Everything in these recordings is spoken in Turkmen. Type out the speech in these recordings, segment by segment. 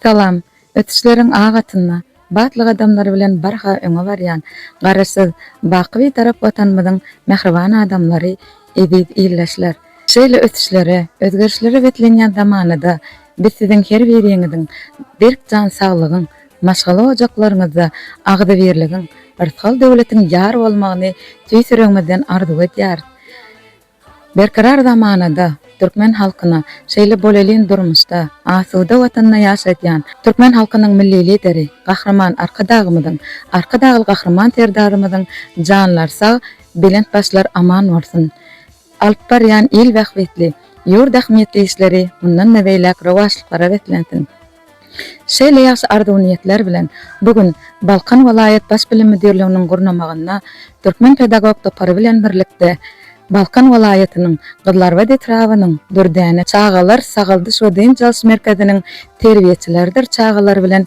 Salam. Ösüşleriň ak atynda, batly gadamlar bilen barha öňe barýan Garaşsyz, baky Bitarap Watanymyzyň mähriban adamlary, eziz ildeşler! Şeýle ösüşlere, özgerişlere beslenýän zamanada biz siziň her biriňiziň berk jan saglygyň, maşgala ojaklaryňyzda agzybirligiň, rysgal-döwletiň ýar bolmagyny tüýs ýüregimizden arzuw edýäris. Berkarar zamanada türkmen halkyna, şeýle bolelin durmuşda, asuda Watanda ýaşadýan türkmen halkynyň Milli Lideri Gahryman Arkadagymyzyň, Arkadagly Gahryman Serdarymyzyň janlary sag, belent başlary aman bolsun! Alyp barýan il bähbitli, ýurt ähmiýetli işleri mundan-da beýläk rowaçlyklara beslensin! Şeýle ýagşy arzuw-niýetler bilen, bu gün Balkan welaýat Baş bilim müdirliginiň gurnamagynda Türkmen pedagog topary bilen birlikde Balkan welaýatynyň Gyzlarbat etrabynyň Dürdäne çagalar sagaldyş we dynç alyş merkeziniň terbiýeçileridir çagalar bilen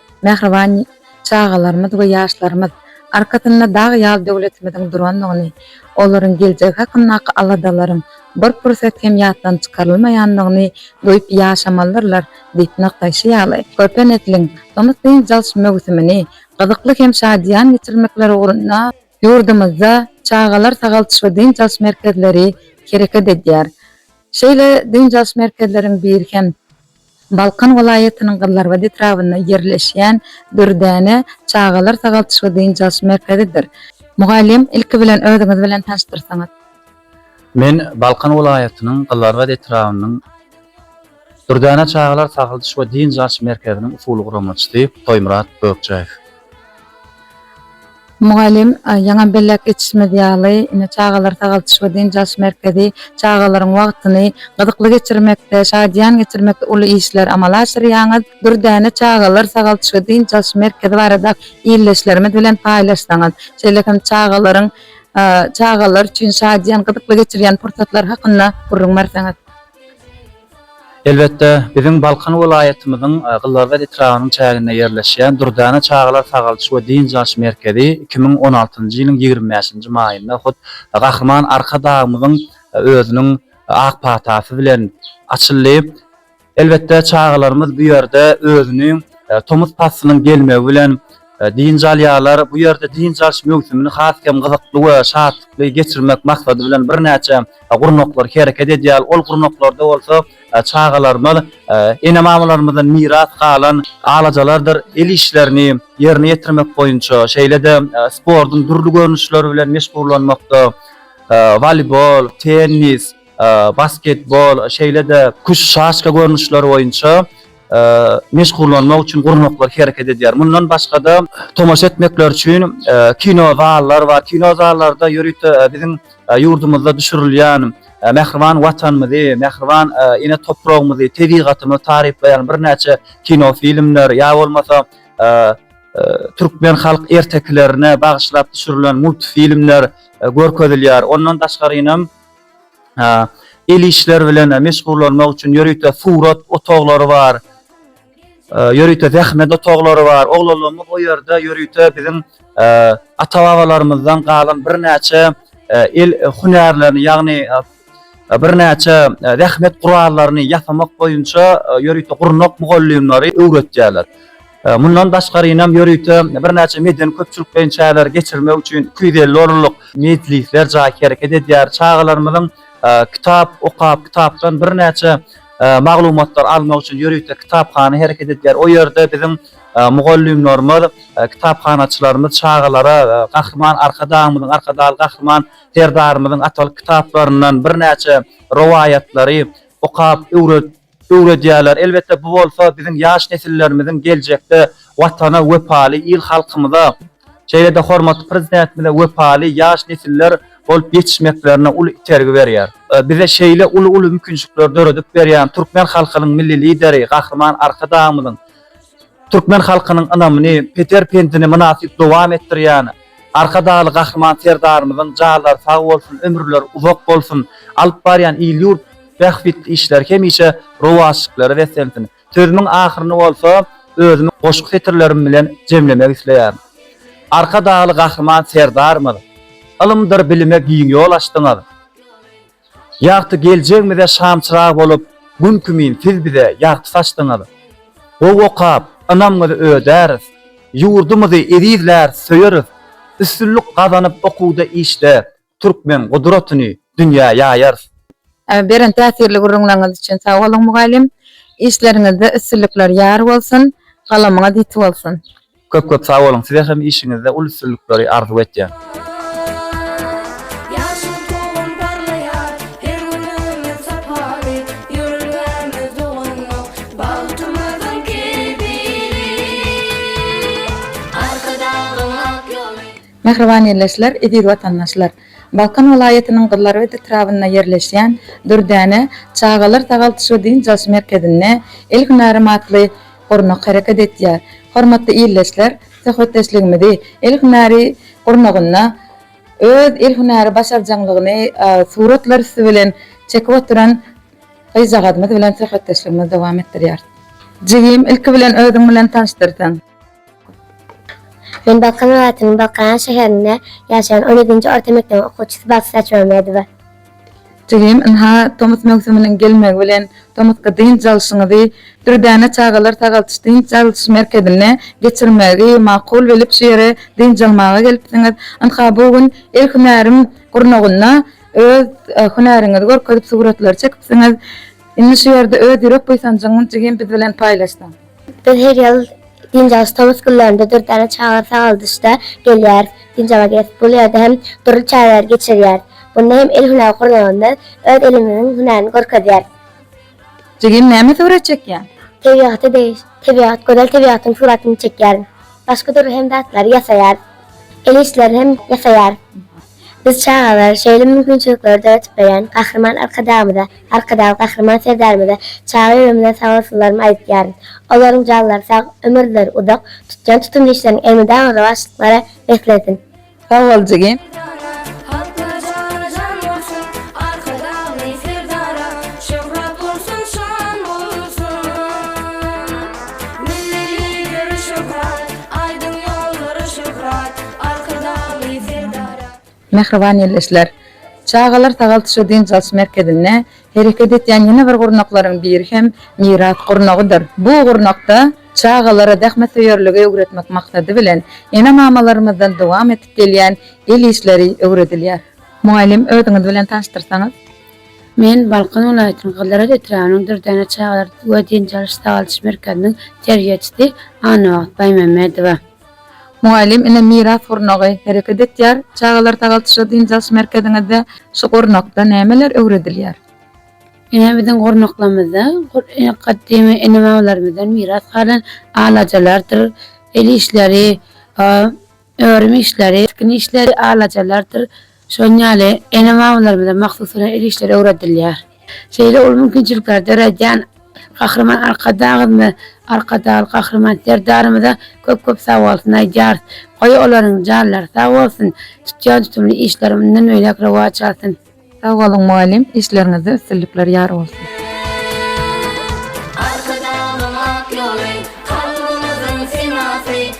mähriban çagalarymyz we ýaşlarymyz arkasynda dag ýaly döwletimiziň durandygyny, olaryň geljegi hakyndaky aladalaryň bir pursat hem ýatdan çykarylmaýandygyny duýup ýaşamalydyrlar diýip nygtaýşy ýaly, körpe nesliň tomus dynç alyş möwsümini gyzykly hem şadyýan geçirmekleri ugrunda, ýurdumyzda çagalar sagaldyş we dynç alyş merkezleri hereket edýär. Şeýle dynç alyş merkezleriň biri hem Balkan welaýatynyň Gyzlarbat etrabynda ýerleşýän Dürdäne çagalar sagaldyş we dynç alyş merkezidir. Mugallym, ilki bilen özüňiz bilen tanyşdyrsaňyz? Men Balkan welaýatynyň Gyzlarbat etrabynyň Dürdäne çagalar sagaldyş we dynç alyş merkeziniň usuly guramaçysy Toýmyrat Gökjaýew. Mugallym, Ýaňam belläp geçişimiz ýaly, indi çagalar sagaldyş we dynç alyş merkezi çagalaryň wagtyny gyzykly geçirmekde, şadyýan geçirmekde uly işler amala aşyrýaňyz. Dürdäne çagalar sagaldyş we dynç alyş merkezi barada ildeşlerimiz bilen paýlaşsaňyz, şeýle hem çagalaryň çagalar üçin şadyýan, gyzykly geçirýän pursatlary hakynda gürrüň berseňiz. Elbetde, biziň Balkan welaýatymyzyň Gyzlarbat etrabynyň çäginde ýerleşýän Dürdäne çagalar sagaldyş we dynç alyş merkezi iki müň on altynjy ýylyň ýigrimi bäşinji maýynda hut Gahryman Arkadagymyzyň özüniň ak patasy bilen açyldy. Elbetde, çagalarymyz bu ýerde özüni tomus paslynyň gelmegi bilen Dynç alýarlar. Bu ýerde dynç alyş möwsümini has hem gyzykly we şatlykly geçirmek maksady bilen birnäçe gurnaklar hereket edýär. Ol gurnaklarda bolsa çagalarymyz ene-mamalarymyzdan miras galan alajalardyr el işlerini ýerine ýetirmek boýunça, şeýle-de sportuň dürli görnüşleri bilen meşgullanmakda, woleýbol, tennis, basketbol, şeýle-de küşaşka görnüşleri boýunça meşgullanmak üçin gurnaklar hereket edýär. Mundan başga-da, tomaşa etmekleri üçin kino zallar bar. Kino zallarda ýörite biziň ýurdumyzda düşürilýän mähriban Watanymyzy, mähriban ene topragymyzy, tebigatymyzy taryplaýan birnäçe kino filmler ýa bolmasa türkmen halk ertekilerine bagyşlap düşürilen multfilmler görkezilýär. Ondan daşgaryňam, el işleri bilen meşgullanmak üçin ýörite surat otaglary bar, ýörite zähmet otaglary bar. Oglanlarymyz o ýerde ýörite biziň ata-babalarymyzdan galan birnäçe el hünärlerini, ýagny birnäçe zähmet gurallaryny ýasamak boýunça ýörite gurnak mugallymlary öwretýärler. Mundan daşgarynam ýörite birnäçe medeni-köpçülik beýan çäreleri geçirmek üçin iki ýüz elli orunlyk mejlisler jaý hereket edýär. Çagalarymyzyň kitap okap, kitapdan birnäçe maglumatlar almak üçin ýörite kitaphana hereket edýär. O ýerde biziň mugallymlarymyz, kitaphanaçylarymyz çagalara Gahryman Arkadagymyzyň, Arkadagly Gahryman Serdarymyzyň atalyk kitaplaryndan birnäçe rowaýatlary okap, öwredip, öwredýärler. Elbetde, bu bolsa biziň ýaş nesillerimiziň geljekde Watana wepaly, il-halkymyza, şeýle-de hormatly Prezidentimize wepaly ýaş nesiller bolup ýetişmeklerine uly itergi berýär. Bize şeýle uly-uly mümkinçilikleri döredip berýän türkmen halkynyň Milli Lideri Gahryman Arkadagymyzyň türkmen halkynyň ynamyny, peter-pendini mynasyp dowam etdirýän Arkadagly Gahryman Serdarymyzyň janlary sag bolsun, ömürleri uzak bolsun, alyp barýan il-ýurt bähbitli işleri hemişe rowaçlyklara beslensin. Sözümiň ahyryny bolsa özümiň goşgy setirlerim bilen jemlemek isleýärin. Arkadagly Gahryman Serdarymyz, Ylymdyr bilime giň ýol açdyňyz. Ýagty geljegimize şamçyrag bolup, Gün kimin siz bize ýagty saçdyňyz. Gowy okap, ynamyňyzy ödäris. Ýurdumyzy ezizläris, söýeris. Üstünlik gazanyp okuwda, işde, Türkmen gudratyny dünýä ýaýarys. Beren täsirli gürrüňleriňiz üçin sag boluň mugallym. Işleriňizde üstünlikler ýar bolsun, galamyňyz ýiti bolsun! Köp köp sag boluň size hem işiňizde uly üstünlikleri arzuw etýän. Mähriban ildeşler, eziz watandaşlar! Balkan welaýatynyň Gyzlarbat etrabynda ýerleşýän Dürdäne çagalar sagaldyş we dynç alyş merkezinde El hünärim atly gurnak hereket edýär. Hormatly ildeşler, söhbetdeşligimizi el hünäri gurnagynda öz el hünäri başarjaňlygyny suratlar üsti bilen çekip oturan gyzjagazymyz bilen söhbetdeşligimizi dowam etdirýäris. Jigim, ilki bilen özüň bilen tanyşdyrsaň. Men Balkan welaýatynyň Balkanabat şäherinde ýaşaýan on ýedinji orta mekdebiň okuwçysy Bagtyş Açmammedowa. Jigim, ynha, tomus möwsüminiň gelmegi bilen tomusky dynç alşyňyzy Dürdäne çagalar sagaldyş-dynç alyş merkezinde geçirmegi makul bilip şu ýere dynç almaga gelipsiňiz. Ynha, bu gün el hünärim gurnagynda öz hünäriňizi görkezip suratlary çekipsiňiz. Indi şu ýerde öz ýürek buýsanjyňy jigim biz bilen paýlaşsaň. Biz her ýyl Diýnjagyş tomus günlerinde dürdäne çaga sagaldyşda gelýäris. Diýnjaga gelip, bu ýerde hem dürli çäreleri geçirýäris. Munda hem el hünär gurnagymyz öz elimiziň hünärini görkezýär. Jigim, näme surat çekýäň? Tebigaty degişip, tebigat, gözel tebigatyň suratyny çekýärin. Başga dürli hem zatlary ýasaýarys. El işlerini hem ýasaýarys. Biz çagalara şeýle mümkinçilikleri döredip berýän Gahryman Arkadagymyza, Arkadag Gahryman Serdarymyza çaga ýüregimden sabolsunlarymy aýdýaryn. Olaryň janlary sag, ömürleri uzak, tutýan tutumly işleriň elmydama rowaçlyklara beslensin! Sag bol jigim. Mähriban ýerleşler. Çagalar sagaldyşy dynç alyş merkezinde hereket edýän ýene bir gurnaklaryň biri hem Miras gurnagydyr. Bu gurnakda çagalara zähmetsöýerligi öwretmek maksady bilen, ene-mamalarymyzdan dowam edip gelýän el işleri öwredilýär. Mugallym, özüňiz bilen tanyşdyrsaňyz? Men Balkan welaýatynyň Gyzylarbat etrabynyň Dürdäne çagalar we dynç alyş-sagaldyş merkeziniň terbiýeçisi Annabagt Baýmämmedowa. Mugallym ine miras gurnagy hereket etýär. Çagalar sagalçyja dynç alyş merkeziňizde şu gurnakda nämeler öwredilýär? Ine biziň gurnaklarymyzda gadymy ene-babalarymyzdan miras galan alajalardyr el işleri, örüm işleri, tikin işleri, alajalardyr Şonuň ýaly, ene-mamalarymyza mahsus hünär el işleri öwredilýär. Şeýle uly mümkinçilikleri döredýän Gahryman Arkadagymyza, Arkadagly Gahryman Serdarymyza köp-köp sagbolsun aýdýarys. Goý, olaryň janlary sag bolsun, tutýan tutumly işleri mundan beýläk rowaç alsyn! Sag boluň mugallym, işleriňizde üstünlikler ýar bolsun!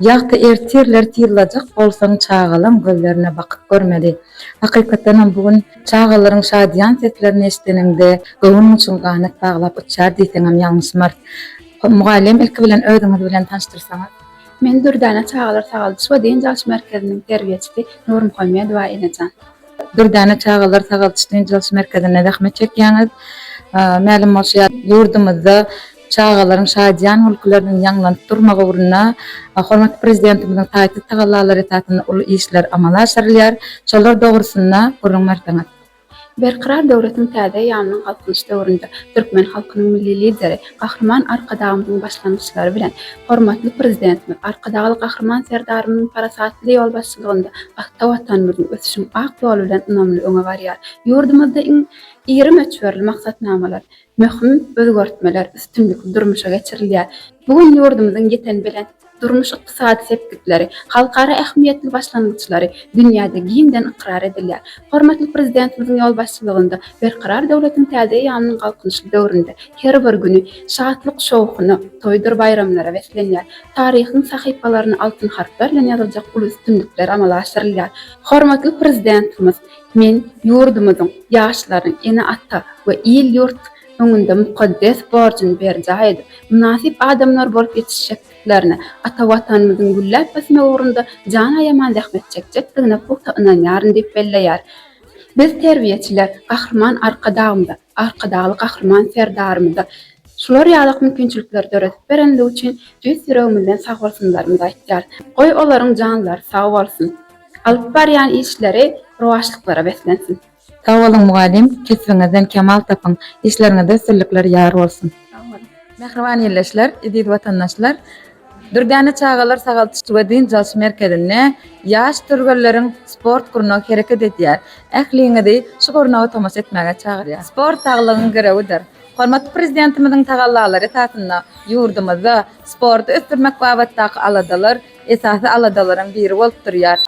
Ýagty ertirler tyzlajak bolsaň çagalaň gözlerine bakyp görmeli. Hakykatdanam bu gün çagalaryň şadyýan seslerini eşideniňde göwün guçuň ganat baglap uçýar diýseňem ýalňyşmarys. Mugallym ilki bilen özüňiz bilen tanyşdyrsaňyz. Men Dürdäne çagalar sagaldyş we dynç alyş merkeziniň terbiýeçisi Nurmuhammedowa Enejan. Dürdäne çagalar sagaldyş-dynç alyş merkezinde zähmet çekýäňiz. Mälim bolşy ýaly, ýurdumyzda çagalaryň şadyýan gülküleriniň ýaňlanyp durmagy ugrunda hormatly Prezidentimiziň taýsyz tagallalary esasynda uly işler amala aşyrylýar. Şolar dogrusynda gürrüň berseňiz? Berkarar döwletiň täze eýýamynyň Galkynyş döwründe türkmen halkynyň Milli Lideri, Gahryman Arkadagymyzyň başlangyçlary bilen hormatly Prezidentimiz Arkadagly Gahryman Serdarymyzyň parasatly ýolbaşçylygynda ata Watanymyzyň ösüşiň ak ýoly bilen ynamly öňe barýar. Ýurdumyzda iň iri möçberli maksatnamalar, möhüm özgertmeler üstünlikli durmuşa geçirilýär. Bu gün ýurdumyzyň ýeten belent durmuş-ykdysady sepgitleri, halkara ähmiýetli başlangyçlary dünýäde giňden ykrar edilýär. Hormatly Prezidentimiziň ýolbaşçylygynda Berkarar döwletiň täze eýýamynyň galkynyşly döwründe her bir güni şatlyk-şowhuna, toýdur-baýramlara beslenýär. Taryhyň sahypalaryna altyn harplar bilen ýazyljak uly üstünlikler amala aşyrylýar. Hormatly Prezidentimiz, Men ýurdumyzyň, ýaşlaryň, ene-ata we il-ýurt, öňünde mukaddes borjuny berjaý edip, mynasyp adamlar bolup ýetişjekdiklerine, ata Watanymyzyň gülläp ösmegi ugrunda jan aýaman zähmet çekjekdigine pugta ynanýaryn diýip belleýär. Biz, terbiýeçiler, Gahryman Arkadagymyza, Arkadagly Gahryman Serdarymyza şular ýalak mümkinçilikleri döredip berenligi üçin tüýs ýüregimizden sagbolsunlarymyzy aýtýarys. Goý, olaryň janlary sag bolsun, alyp barýan işleri rowaçlyklara beslensin! Sag boluň mugallym kesbiňizden kemal tapyň işleriňizde üstünlikler ýar bolsun. Mähriban ildeşler, eziz watandaşlar! Dürdäne çagalar sagaldyş we dynç alyş merkezinde ýaş türgenleriň sport gurnagy hereket edýär. Ähliňizi şu gurnaga tomaşa etmäge çagyrýar. Sport saglygyň girewidir. Hormatly Prezidentimiziň tagallalary esasynda ýurdumyzda sporty ösdürmek babatdaky aladalar esasy aladalaryň biri bolup durýar.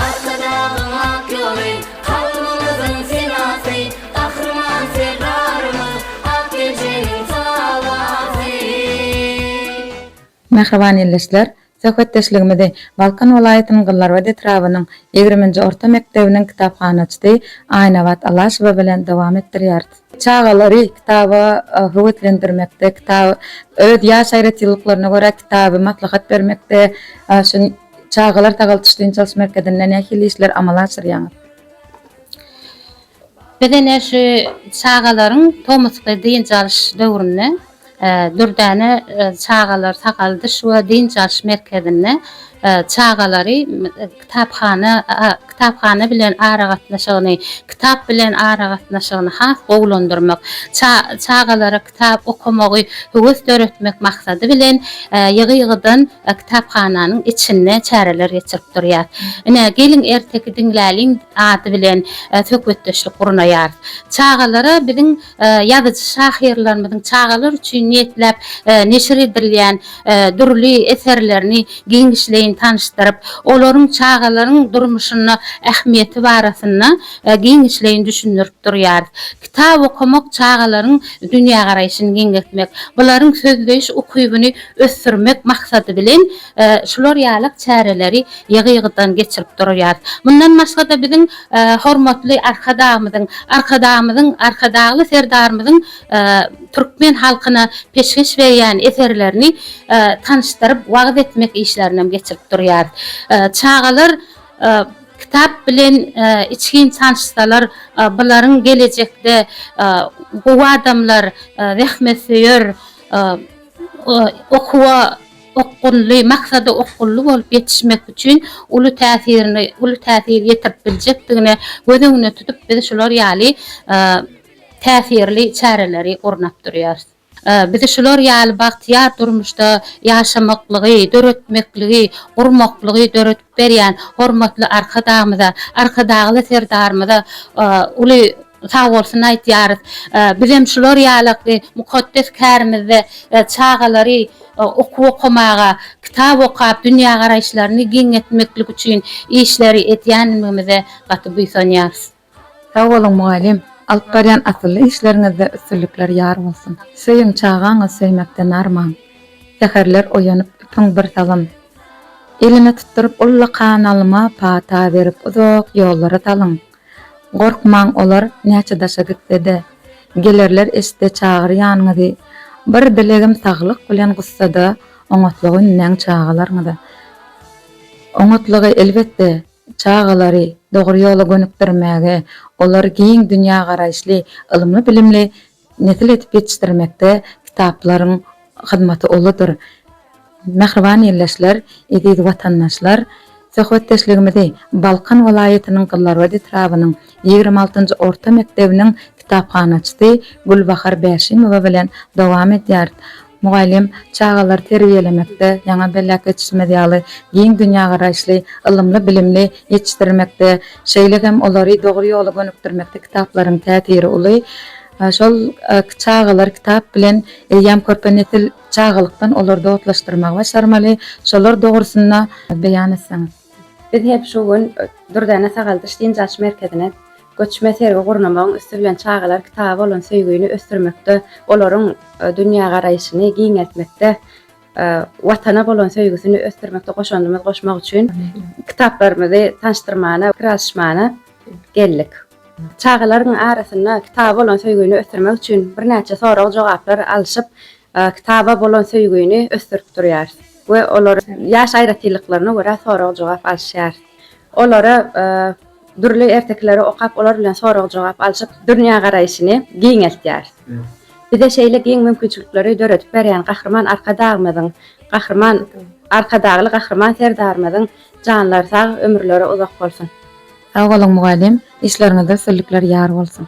Arkadagyň ak ýoly, halkymyzyň senasy, Gahryman Serdarymyz, ak ejemiň salasy. Mähriban ildeşler, söhbetdeşligimizi Balkan welaýatynyň Gyllarybat etrabynyň ýigriminji orta mekdebiniň kitaphanaçysy Aýnabat Alaşowa bilen dowam etdirýäris. Çagalary kitaba höweslendirmekde, kitap öz ýaş aýratynlyklaryna görä kitaby maslahat bermekde şu Çagalar sagaldyş-dynç alyş merkezinde nähili işleri amala aşyrýaňyz? Biz ine şu çagalaryň tomusky dynç alyş döwründe Dürdäne çagalar sagaldyş we dynç alyş merkezinde çagalary kitaphana kitaphana bilen aragatnaşygyny kitap bilen aragatnaşygyny has gowulandyrmak, çagalara kitap okamagy höwes döretmek maksady bilen ýygy-ýygydan kitaphananyň içinde çäreler geçirip durýar. Ine, geliň erteki diňläliň ady bilen söhbetdeşlik gurnaýarys. Çagalara biziň ýazyjy-şahyrlarymyzyň çagalar üçin niýetläp neşir edilýän dürli eserlerini giňişleýin tanyşdyryp, olaryň çagalaryň durmuşynda ähmiýeti barasynda giňişleýin düşündirip durýarys. Kitap okamak çagalaryň dünýägaraýşyny giňeltmek, bularyň sözleýiş ukybyny ösdürmek maksady bilen Şular ýaly çäreleri ýygy-ýygydan geçirip durýarys. Mundan başga-da biziň hormatly Arkadagymyzyň, Arkadagymyzyň, Arkadagly Serdarymyzyň türkmen halkyna peşgeş berýän eserlerini tanyşdyryp, wagyz etmek işlerini hem geçirip durýarys. Çagalar kitap bilen içgin tanyşsalar, bularyň gelejekde gowy adamlar, zähmetsöýer, okuwa. okgunly, maksada okgunly bolup ýetişmek üçin uly täsirini, uly täsir ýetirip biljekdigini göz öňünde tutup, biz şular ýaly täsirli çäreleri gurnap durýarys. Bizi şular ýaly bagtyýar durmuşda ýaşamaklygy, döretmekligi, gurmaklygy döredip berýän hormatly Arkadagymyza, Arkadagly Serdarymyza uly. Sagbolsun aýtýarys. Bizem şular ýaly mukaddes kärimizde çagalary okuw okamaga, kitap okap dünýägaraýyşlaryny giňeltmeklik üçin işleri edýänligimize gaty buýsanýarys. Sag boluň mugallym, alyp barýan asylly işleriňizde üstünlikler ýar bolsun. Söýüň çagaňy söýmekden arman. Säherler oýanyp üpüň bir salym. Elime tutduryp ullakan alyma pata berip uzak ýollara salyň. Gorkmaň olar näçe daşa gitsede gelerler eşde çagyr ýanyňyzy bir dilegim saglyk bilen gussada oňatlygy ündeň çagalaryňyza oňatlygy elbetde çagalary dogry ýola gönükdirmäge olar giň dünýä garaýyşly ylymly bilimli Nesil edip ýetişdirmekde kitaplaryň hyzmaty uludyr. Mähriban ildeşler, eziz watandaşlar! Söhbetdeşligimizi Balkan welaýatynyň Gyzlarbat etrabynyň ýigrimi altynjy orta mekdebiniň kitaphanaçysy Gülbahar Bäşimowa bilen dowam edýäris. Mugallym, çagalary terbiýelemekde, ýaňa belläp geçişimiz ýaly, giň dünýägaraýyşly, ylymly-bilimli ýetişdirmekde, şeýle hem olary dogry ýola gönükdirmekde kitaplaryň täsiri uly. Şol çagalary kitap bilen eýýäm körpe nesil çagalykdan olary dostlaşdyrmagy başarmaly. Şolar dogrusynda beýan etseňiz. Biz hem şu gün Dürdäne sagaldyş-dynç alyş merkezine Göçme sergi gurnamagyň üsti bilen çagalar kitaba bolan söýgini ösdürmekde, olaryň dünýägaraýşyny giňeltmekde, Watana bolan söýgüsini ösdürmekde goşandymyzy goşmak üçin kitaplarymyzy tanyşdyrmana, pikir alyşmana geldik. Çagalaryň arasynda kitaba bolan söýgini ösdürmek üçin birnäçe sorag-jogaplar alşyp, kitaba bolan söýgini ösdürip durýarys we olar ýaş aýratynlyklaryna görä sorag-jogap alyşýarys. Olara. Dürli ertekileri okap, olar bilen sorag-jogap alşyp, dünýägaraýşyny giňeltýäris. Bize şeýle giň mümkinçilikleri döredip berýän Gahryman Arkadagymyzyň, Gahryman Arkadagly Gahryman Serdarymyzyň janlary sag, ömürleri uzak bolsun! Sag boluň mugallym, işleriňizde üstünlikler ýar bolsun!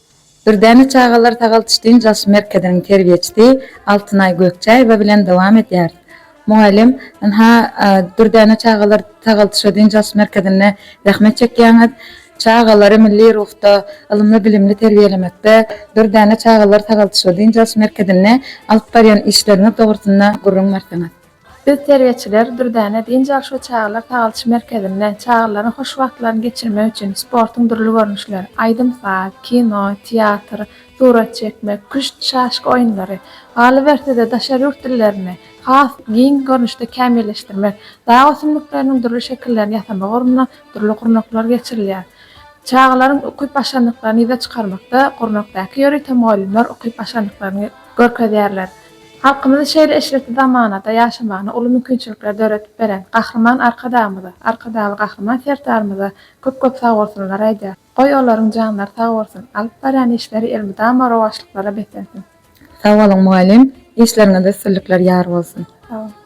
Dürdäne çagalar sagaldyş-dynç alş merkeziniň terbiýeçisi Altynaý Gökçäýewa bilen dowam edýäris. Mugallym, ynha, Dürdäne çagalar sagaldyş-dynç alş merkezinde zähmet çekýäňiz. Çagalary milli ruhda, ylymly-bilimli terbiýelemekde Dürdäne çagalar sagaldyş-dynç alş merkezinde alyp barýan işleriňiz dogrusynda gürrüň berseňiz. Biz terbiýeçiler Dürdäne dynç alyş we çagalar sagaldyş merkezinde çagalaryň hoş wagtlaryny geçirmek üçin sportuň dürli görnüşleri, aýdym-saz, kino, teatr, surat çekmek, küşt, şaşka oýunlary, galyberse-de daşary ýurt dillerini has giň görnüşde kämilleşdirmek, dag ösümlikleriniň dürli şekillerini ýasamak ugrunda dürli gurnaklar geçirilýär. Çagalaryň ukyp-başarnyklaryny ýüze çykarmakda gurnakdaky ýörite mugallymlar ukyp-başarnyklaryny görkezýärler. Halkymyzy şeýle eşretli zamanada ýaşamagyna uly mümkinçilikleri döredip beren Gahryman Arkadagymyza, Arkadagly Gahryman Serdarymyza köp-köp sagbolsunlary aýdýar. Goý, olaryň janlary sag bolsun, alyp barýan işleri elmydama rowaçlyklara beslensin! Sag boluň mugallym, işleriňizde üstünlikler ýar bolsun! Sag boluň.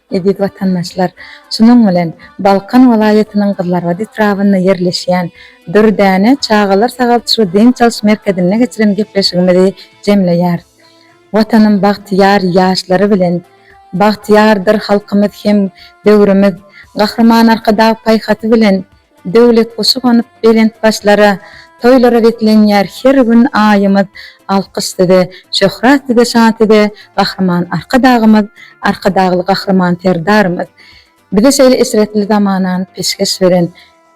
Eziz watandaşlar, şunuň bilen Balkan welaýatynyň Gyzlarbat etrabynda ýerleşýän Dürdäne çagalar sagalçyly dynç alyş merkezinde geçiren gepleşigimizi jemleýäris. Watanym bagtyýar ýaşlary bilen bagtyýardyr halkymyz hem döwrümiz Gahryman Arkadag Paýhasy bilen Döwlet guşy gonup belent başlara, Toýlara beslenýär her gün aýymyz. Alkyş size, şöhrat size, şan size, Gahryman Arkadagymyz, Arkadagly Gahryman Serdarymyz! Bize şeýle eşretli zamanany peşgeş beren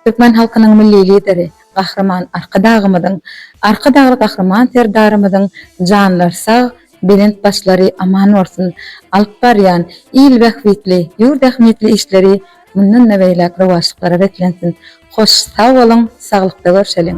Türkmen halkynyň Milli Lideri, Gahryman Arkadagymyzyň, Arkadagly Gahryman Serdarymyzyň janlary sag, belent başlary aman bolsun! Alyp barýan il bähbitli, ýurt ähmiýetli işleri Mundan-da beýläk rowaçlyklara beslensin. Hoş sag boluň, saglykda görşeliň!